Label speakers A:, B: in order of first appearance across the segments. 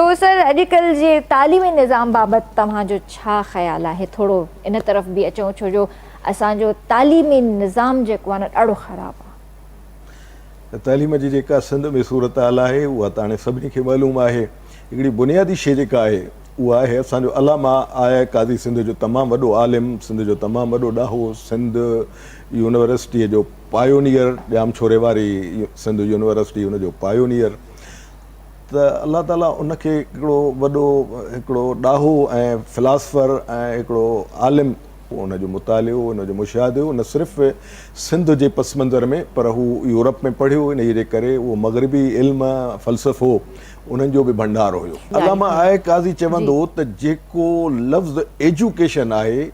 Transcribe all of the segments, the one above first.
A: Professor اڄ ڪلهه جي تعليمي نظام بابت توهان جو ڇا خيال آهي ٿورو ان طرف به اچون ڇو جو اسان جو تعليمي نظام جيڪو آهي نه ڏاڍو خراب آهي. تعليم جي جيڪا
B: سنڌ ۾ صورتحال آهي اها ته هاڻي سڀني کي معلوم آهي هڪڙي بنيادي شي جيڪا آهي اها آهي اسان جو علامه آء قاضي سنڌ جو تمام وڏو عالم سنڌ جو تمام وڏو ڏاهو سنڌ يونيورسٽي جو پايونيئر ڄامڇوري واري سنڌ يونيورسٽي ان جو پايونيئر ته الله تعاليٰ ان کي هڪڙو وڏو هڪڙو ڏاهو ۽ فلاسفر ۽ هڪڙو عالم هو ان جو مطالعو ان جو مشاهدو هو نه صرف سنڌ جي پس منظر ۾ پر هو يورپ ۾ پڙهيو انهيء جي ڪري اهو مغربي علم فلسفو انهن جو به ڀنڊار هيو علامه آء قاضي چوندو هو ته جيڪو لفظ ايجوڪيشن آهي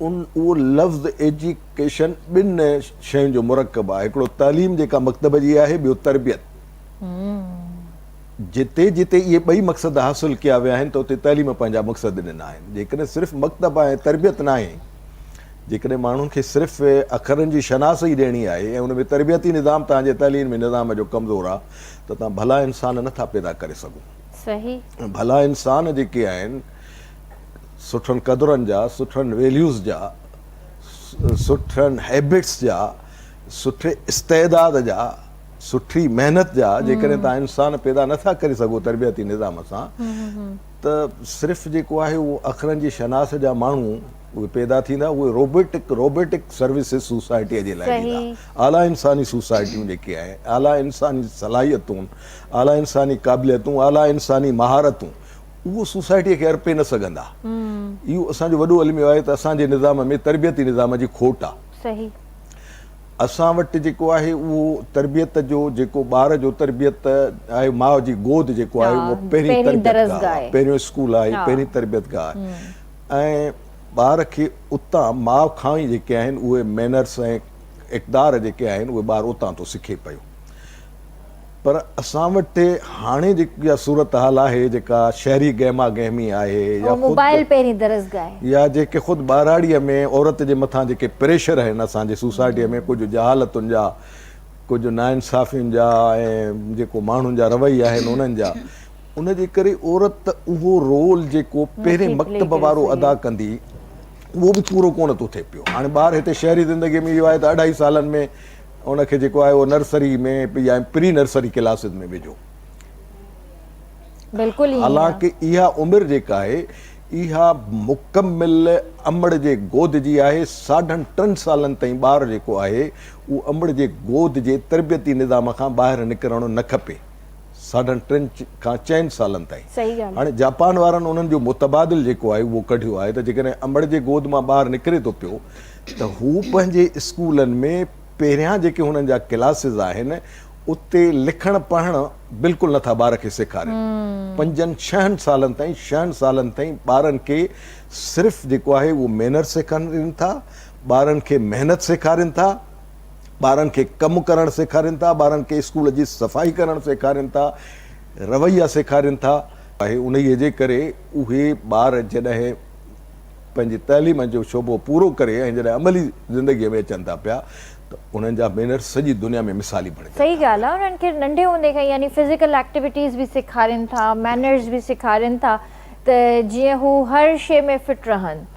B: ان اهو لفظ ايجوڪيشن ٻن شين جو مرڪب آهي هڪڙو تعليم جيڪا مڪتب جي آهي ٻيو تربيت جتي جتي اهي ٻئي مقصد حاصل ڪيا ويا آهن ته اتي تعليم پنهنجا مقصد ڏنا آهن. جيڪڏهن صرف مڪتب ۽ تربيت ناهي، جيڪڏهن ماڻهن کي صرف اکرن جي شناس ئي ڏيڻي آهي ۽ ان ۾ تربيتي نظام توهان جي تعليمي نظام جو ڪمزور آ ته توهان ڀلا انسان نه ٿا پيدا ڪري سگهو. صحيح.
A: ڀلا انسان
B: جيڪي آهن سٺن قدرن جا، سٺن ويليوز جا، سٺن هيبٽس جا، سٺي استعداد جا، سٺي محنت جا جيڪڏهن توهان انسان پيدا نه ٿا ڪري سگهو تربيتي نظام سان ته صرف جيڪو آهي اهو اکرن جي شناس جا ماڻهو اهي پيدا ٿيندا اهي روبوٽڪ روبوٽڪ سروسز سوسائٽي جي لاء ڏيندا اعليٰ انساني سوسائٽيون جيڪي آهن اعليٰ انساني صلاحيتون اعليٰ انساني قابليتون اعليٰ انساني مهارتون اهو سوسائٽيء کي ارپي نه سگهندا اهو اسان جو وڏو الميو آهي ته اسان جي نظام ۾ تربيتي نظام جي کوٽ آهي
A: اسان
B: وٽ جيڪو آهي اهو تربيت جو جيڪو ٻار جو تربيت آهي ماء جي گود جيڪو آهي اهو پهرين تربيت گاهه آهي پهريون اسڪول آهي پهرين تربيت گاهه آهي ۽ ٻار کي اتان ماء کان ئي جيڪي آهن اهي مينرس ۽ اقدار جيڪي آهن اهي ٻار اتان ٿو سکي پيو پر اسان وٽ هاڻي جيڪي اها صورتحال آهي جيڪا شهري گهما گهمي آهي يا موبائل پهرين درسگاهه آهي يا جيڪي خود ٻهراڙيء ۾ عورت جي مٿان جيڪي پريشر آهن اسان جي سوسائٽيء ۾ ڪجهه جهالتن جا ڪجهه ناانصافين جا ۽ جيڪو ماڻهن جا رويا آهن انهن جا ان جي ڪري عورت اهو رول جيڪو پهرين مڪتب وارو ادا ڪندي اهو به پورو ڪونه ٿو ٿئي پيو هاڻي ٻار هتي شهري زندگي ۾ اهو آهي ته اڍائي سالن ۾ ان کي جيڪو آهي اهو نرسري ۾ يا پري نرسري ڪلاسز ۾ وجهو. بلڪل ائين آ. حالانڪ اها عمر جيڪا آهي اها مڪمل امڙ جي گود جي آهي ساڍن ٽن سالن تائين ٻار جيڪو آهي اهو امڙ جي گود جي تربيتي نظام کان ٻاهر نڪرڻ نه کپي ساڍن ٽن کان چئن سالن تائين صحيح ڳالهه هاڻي جاپان وارن انهن جو متبادل جيڪو آهي اهو ڪڍيو آهي ته جيڪڏهن امڙ جي گود مان ٻار نڪري ٿو پيو ته هو پنهنجي اسڪولن ۾ پهريان جيڪي هنن جا ڪلاسز آهن اتي لکڻ پڙهڻ بلڪل نه ٿا ٻار کي سيکارين پنجن ڇهن سالن تائين شهن سالن تائين ٻارن کي صرف جيڪو آهي اهو مينر سيکارين ٿا ٻارن کي محنت سيکارين ٿا ٻارن کي ڪم ڪرڻ سيکارين ٿا ٻارن کي اسڪول جي صفائي ڪرڻ سيکارين ٿا رويا سيکارين ٿا آهي انهيء جي ڪري اهي ٻار جڏهن پنهنجي تعليم جو شعبو پورو ڪري ۽ جڏهن عملي زندگيء ۾ اچن ٿا پيا ته انهن جا مينرس سڄي دنيا ۾ مثالي بڻجن ٿا. صحيح ڳالهه آهي انهن کي
A: ننڍي هوندي کان ئي يعني فزيڪل ايڪٽيوٽيز به سيکارين ٿا مينرس به سيکارين ٿا ته جيئن هو هر شيء ۾ فٽ رهن.